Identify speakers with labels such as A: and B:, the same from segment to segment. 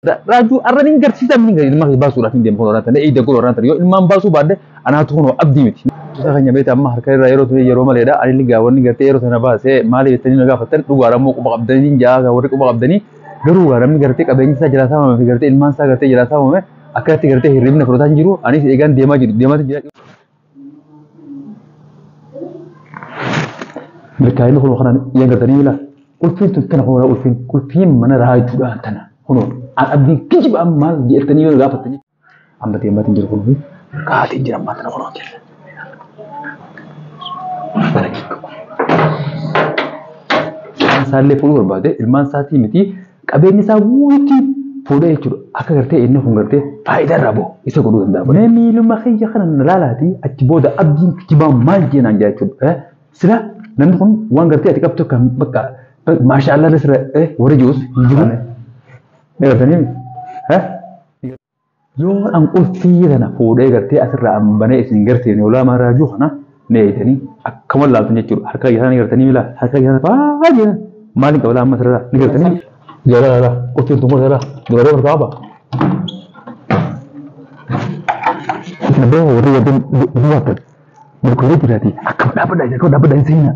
A: Raajuu arraan hin garsiisaa miti gadi ilmaa baasuudhaaf hin deemu kun warraan ta'e eegda godhu warraan ta'e yoo ilmaan baasuu baadde anaatu kun abdii miti. Isa keenya beekta amma harka irraa yeroo ta'e yeroo maleedha ani ligaa wanni gartee yeroo sana baasee maali jettanii na gaafattan dhugaadha immoo quba qabdanii hin jaa warri quba qabdanii garuu gaa namni gartee qabeenyi isaa jalaa saamame fi gartee ilmaan isaa gartee jalaa saamame akkatti gartee hirribni fudhataa hin jiru anis eegaan deemaa jiru deemaa jira. Milkaa'inni kun kanaan yaa gartanii mila ulfiin tun tana kun ulfiin ulfiin mana raajuudhaan tana kun an abdii kijibaa maal jettanii yoo gaafattanii amma deematiin jiru kun kaatiin jira amma tana kun hojjeta. Isaallee fuudhuu barbaade ilmaan isaatii miti qabeenya isaa guututti fuudha jechuudha. Akka gartee inni kun gartee faayidaa irraa bahu isa godhuu danda'a. Mee miiluma kiyya kana na laalaati achi booda abdiin kijibaa maal jee naan jaa jechuudha. Sila namni kun waan gartee ati qabtu kan bakka maashaa Allah sira warri jiruus hin jiru. Ni gartanii? Yoo an qulfii tana fuudhee gartee asirraa an banee isin gartee noolaamaa raajuu kana ni eeytanii akkama laaltan jechuudha. Harka kiyya sana ni gartanii milaa harka kiyya sana baay'ee maaliin qabala amma asirraa ni gartanii. Jala lala qulfiin tun kun jala dubaree ol kaaba. Isin abbaa warri warri dubartan. Murkoolee jiraati akkam dhaabadha akkam dhaabadha hin seenaa.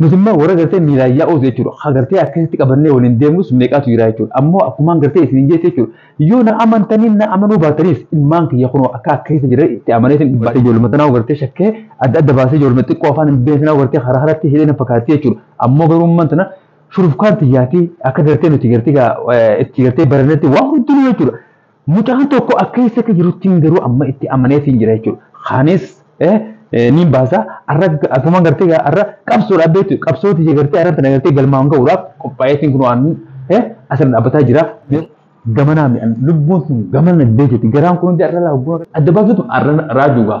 A: Nuti immoo warra gartee miilaan yaa'uus jechuudha. Ka gartee akkasitti qabannee waliin deemnus meeqaatu jira jechuudha. Ammoo akkumaan gartee isiniin jeetti jechuudha. Yoo na amantanii na amanuu baataniis ilmaan kiyya kunoo akka akka keessa jiran itti amaneetiin dubbadhe ijooluma tanaa gartee shakkee adda adda baasee ijooluma xiqqoo afaan hin beekne tanaa gartee karaa karaatti hidhee na fakkaatti jechuudha. Ammoo garuu ummaan tana shurufkaan tiyyaati akka gartee nuti gartee itti gartee barannetti waan hundinuu jechuudha. Mucaan tokko akka eessakka jiruttiin garuu amma itti amaneetiin jira jechuudha. Kaanis niin baasa arra akkuma gartee arra qabsoodhaaf beektu qabsooti jee gartee arra tana gartee galmaan ga'uudhaaf qophaa'eetiin kun waan asirra dhaabbataa jira. Gamanaa mi'an lubbuun sun gamana deebiiti garaan kun hundi arra laa adda baasuutu arra raajuugaa.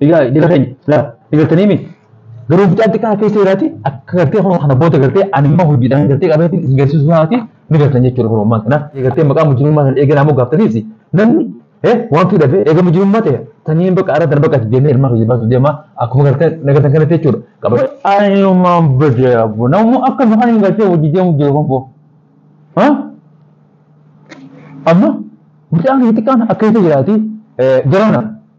A: Egaa jala keenya laa eegaltanii mi garuu mucaan xiqqaa keessa jiraati akka gartee kun kana booda gartee ani immoo hojiidhaan gartee qabeetiin isin garsiisu isaati ni gartan jechuudha kun ammaan kana eegaltee maqaa mujjirummaa sana eeganaa moo gaaftaniisi namni eh waan fi dhabee eega mujjirummaa ta'e taniin bakka arra darbaa qaati deemee ilmaa hojii baasuuf deemaa akkuma gartee nagartan kanatti jechuudha qaba. Ayyumaan badee abbo namni akka nu kan hin gartee hojii deemu jiru kun boo. Amma mucaan xiqqaan akka keessa jiraati jarana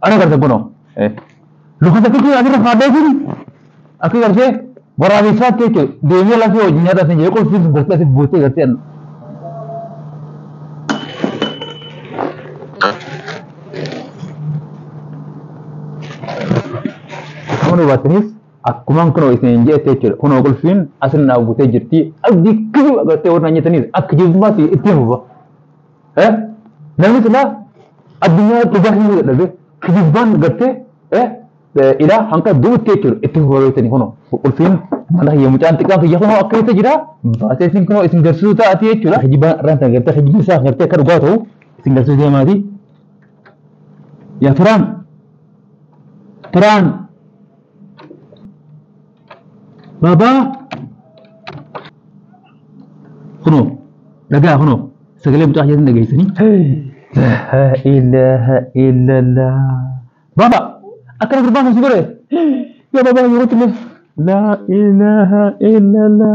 A: Ana garta kuno. Luka sakiti asirra faadee jiri. Akka gartee waraabessaa ta'e jechuudha. Deemee lafee wajjin nyaata sin jedhee qulfiin sun gartee asitti buutee gartee anna. Kun hubattaniis akkuma kunoo isin jedhete jechuudha. Kunoo qulfiin asirra naa buutee jirti. Abdii kijiba gartee warra nyaataniis akka jibbaatti ittiin fufa. Eh? Namni silaa addunyaa dhugaa himuu dadhabee kijibaan gartee eh? eh, ilaa hanga duutti jechuudha itti horatanii kunoo ulfiin mana hiyya mucaan xiqqaan kiyya kunoo akka isa jira baasee isin kunoo isin garsiisuu taa'ati jechuudha kijibaan irraan kan gartee kijibni isaa gartee akka dhugaa ta'u isin garsiisuu deemaati yaa turaan turaan Baba. Kunoo dhagaa kunoo sagalee mucaa keessan dhageessanii. Ilaha illallah. Baba akkana gurbaa kan si godhe. Yaa baba yeroo tillee. La ilaha illallah.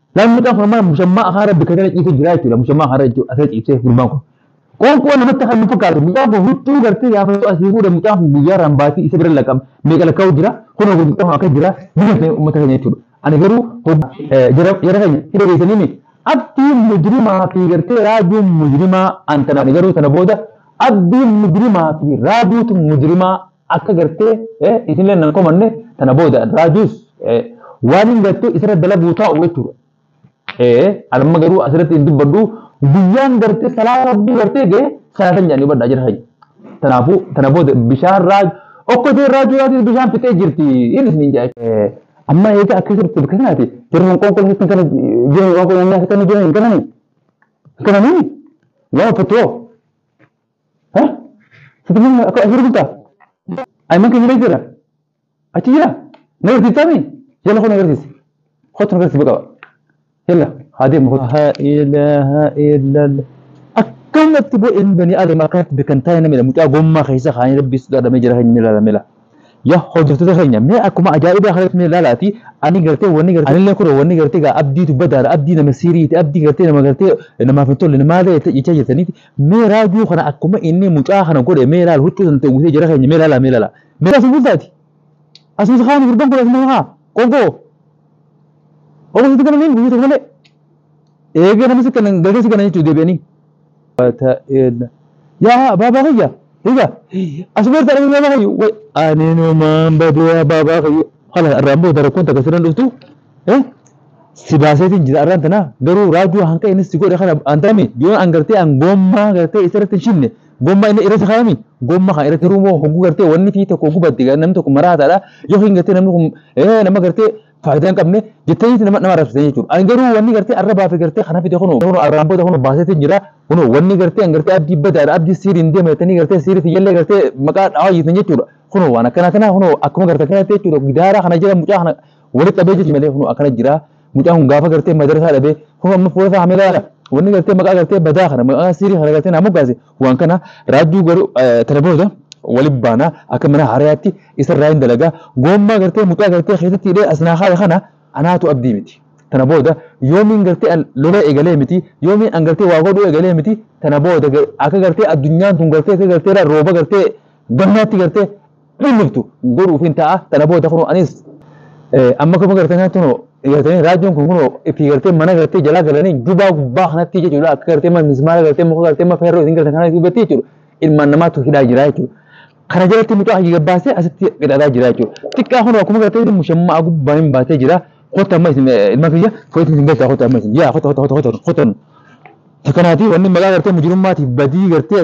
A: Namni kan kun amma musammaa afaan rabbi kan kana ciisee jiraa jechuudha. Musammaa afaan rabbi asirra ciisee gurbaan kun. Qoonqoo namatti kan nu fakkaatu mucaan kun huccuu gartee gaafachuu asii fuudha mucaan kun guyyaa irraan baatii isa bira lakkam meeqa lakkaa'u jira kunoo kun mucaan kun akka jira biyya keenya uummata keenya jechuudha. Ani garuu jara keenya hidha keessanii miti. Abdiin mujrimaa fi gartee raajuun mujrimaa an tanaan garuu sana booda abdiin mujrimaa fi raajuutu mujrimaa Akka gartee isinillee nan komanne tana booda raajuus waan hin gartee isirra dalaguu taa'u jechuudha. Anamma garuu asirratti hin dubbadhu guyyaan gartee salaata rabbii gartee ga'e salaatan jedhanii badhaa jira hayya. Kanaafuu tana booda bishaan raaju okkotee raajuu raajuu bishaan fixee jirti hin isiniin jedha. Amma eega akka sirriitti bakka kanaati jirru hin qoonqoon sirriitti kana jiru hin qoonqoon nyaata kana jiru hin kanani. Hin kanani. Waan uffattu hoo. Ha? Sitti nama akka asirra bultaa? Ayman keenya keessa jira. Achi jira. Na agarsiisaa mee? Yalla koo na agarsiisi. Kottu na agarsiisi baqa. Yalla haa deemu kottu. Haa ilaaha illalla. Akkamatti bo'een banii aadama akkanatti beekan taa'e namidha. Mucaa gommaa keessa kaanii rabbii sodaadhamee jira kan inni ilaalamee laa. ya hojjattoota keenya mee akkuma ajaa'ibaa kanatti mee ilaalaati ani gartee wanni gartee anillee kuro wanni gartee gaa abdiitu badaadha abdii nama siiriiti abdii gartee nama gartee namaaf hin tolle maal ta'e jechaa jirtaniiti mee raajuu kana akkuma inni mucaa kana godhe mee ilaala huccuu sana ta'uusee jara keenya mee ilaala mee ilaala mee asuma bultaati asuma isa kaani gurban kun asuma haa qonkoo obbo sitti galaniin guyyaa tokko malee eegee nama si kana galtee si kana jechuudha deebi'anii ta'een yaa abaabaa kiyya higa asumatti arginu nama kiyyu way ani numaan badee abaabaa kiyyu hala irraan booda rakkoon takka sirran dhuftu eh si baaseetiin jira irraan tanaa garuu raajuu hanqa inni si godhe kana antarami yoo an gartee an gommaa gartee isa irratti hin shibne gommaa inni irratti kaayami gommaa kan irratti ruumoo hogguu gartee wanni fi tokko gubbatti namni tokko maraataadha yookiin gartee namni kun eh nama gartee faayidaa hin qabne jettanii nama nama arrabsitan jechuudha. Ani garuu wanni gartee arra baafe gartee kana fide kunoo kunoo arraan booda kunoo baaseetiin jira kunoo wanni gartee an gartee abdii badaadha abdii siiriin deema jettanii gartee siirii tiyyallee gartee maqaa dhawaa jirtan jechuudha. Kunoo waan akkana kana kunoo akkuma gartee kanatti jechuudha gidaaraa kana jira mucaa kana walitti qabee jechuudha malee kunoo akkana jira mucaa kun gaafa gartee madarasaa dhabee kunoo amma fuula isaa hameelaadha wanni gartee maqaa gartee badaa kana maqaa siirii kana gartee naa moggaase Waan kana raajjuu garuu telefoonoota wali baana akka mana harayaatti isa irraa hin dalagaa goommaa gartee mucaa gartee keessatti hidhee as naa kaaya kana anaatu abdii miti tana booda yoomiin gartee an lolee eegalee miti yoomiin an gartee waa godhuu eegalee miti tana booda akka gartee addunyaan tun gartee akka gartee rooba gartee gannaatti gartee Dhulluftu godhuufin ta'a tana booda kunoo anis amma kuma gartee kanatti kunoo gartanii raajjoon kun kunoo itti gartee mana gartee jalaa galanii jubaa gubbaa kanatti jechuudha akka gartee mana mismaara gartee muka gartee mana feerroo isin gartan kana gubbatti jechuudha ilmaan namaatu hidhaa jira jechuudha. Kana jalatti mucaa hajii gabbaasee asitti qixaataa jira jechuudha. Xiqqaa kunoo akkuma gartee mushammaa gubbaa hin baatee jira kota amma isin ilma kiyya fooyyatti isin galchaa kota amma isin yaa kota kota kota kota kota. Takkanaatii wanni maqaa gartee mujirummaatiif badii gartee